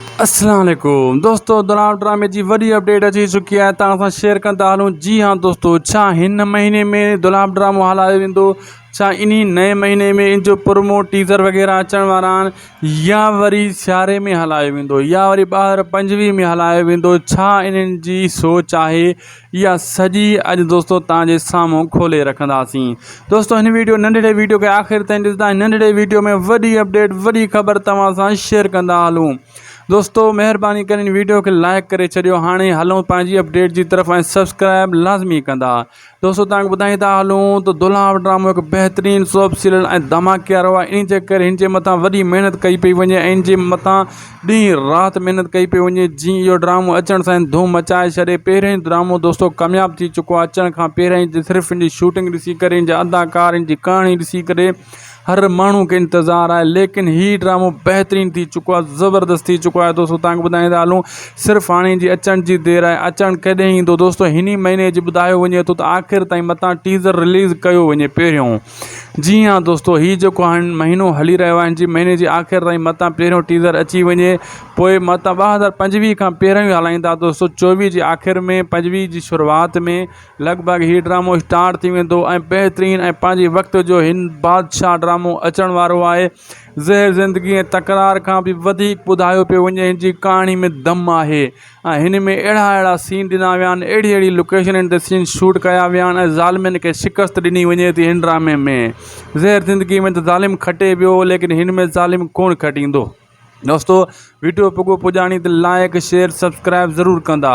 السلام عليڪم دوستو دلال ڊرامي جي وڏي اپڊيٽ اچي چڪي آهي تان اسان شيئر ڪندا هلون جي ها دوستو ڇا هن مهيني ۾ دلال ڊرامو هلايو ويندو ڇا انهي نئين مهيني ۾ ان جو پرومو ٽيزر وغيره اچڻ وارا آهن يا وري سياري ۾ هلايو ويندو يا وري ٻاهر پنجويهه ۾ هلايو ويندو ڇا انهن جي سوچ آهي اها سڄي اڄ دوستو توهان جي سامهون کولي رکنداسين دوستو هن ويڊيو ننڍڙي ويڊيو کي آخر تائين ڏسندا ۽ ننڍڙي ويڊيو ۾ وڏي اپڊيٽ وڏي خبر توهان سان شيئر ڪندا هلون دوستو مهرباني ڪري هن ويڊيو کي لائڪ ڪري ڇڏيو هاڻي هلون پنهنجي اپڊيٽ جي طرف ۽ سبسڪرائب لازمي ڪندا دوستو توهان کي ٻڌائي ٿا هلون ته دولهاء ڊرامو هڪ بهترين سوب سيريل ۽ ڌماڪي وارو آهي ان جي ڪري هن جي مٿان وڏي محنت ڪئي پئي وڃي ۽ ان جي مٿان ڏينهن رات محنت ڪئي پئي وڃي جي اهو ڊرامو اچڻ سان ڌوم مچائي ڇڏي پهريون ڊرامو دوستو ڪامياب ٿي چڪو آهي اچڻ کان پهريان ئي صرف ان جي شوٽنگ ڏسي ڪري ان جا اداڪار ان جي ڪهاڻي ڏسي ڪري هر ماڻهو کي انتظار آهي ليڪن هي ڊرامو بهترين ٿي چڪو آهي زبردست ٿي چڪو آهي دوستو تنگ ٻڌائي ٿا هلون صرف هاڻي ان جي اچڻ جي دير آهي اچڻ ڪڏهن ايندو دوستو هني مهيني جي ٻڌايو وڃي ٿو ته آخر تائين متان ٽيزر رليز ڪيو وڃي پهريون جي ها دوستو هي جيڪو هاڻ مهينو هلي رهيو آهي جي مهيني جي آخر تائين متان پهريون ٽيزر اچي وڃي پوء متان ٻه هزار پنجويهه کان پهريون ئي هلائيندا دوستو چوويهه جي آخر ۾ پنجويهه جي شروعات ۾ لڳ ڀڳ هي ڊرامو اسٽارٽ ٿي ويندو ۽ بهترين ۽ پنهنجي وقت جو هن بادشاهه ڊرامو اچڻ وارو آهي زهر زندگي ۽ تڪرار کان به وڌيڪ ٻڌايو پيو وڃي هن جي ڪهاڻي ۾ دم آهي ۽ هن ۾ اهڙا اهڙا سين ڏنا ويا آهن اهڙي اهڙي لوڪيشنن تي سين شوٽ ڪيا ويا آهن ۽ ظالمن کي شڪست ڏني وڃي ٿي هن ڊرامي ۾ زهر زندگي ۾ ته ظالم کٽي ويو ليڪن هن ۾ ظالم ڪونه کٽيندو دوستو وڊيو پڳو پڄاڻي تي لائيڪ شيئر سبسڪرائب ضرور ڪندا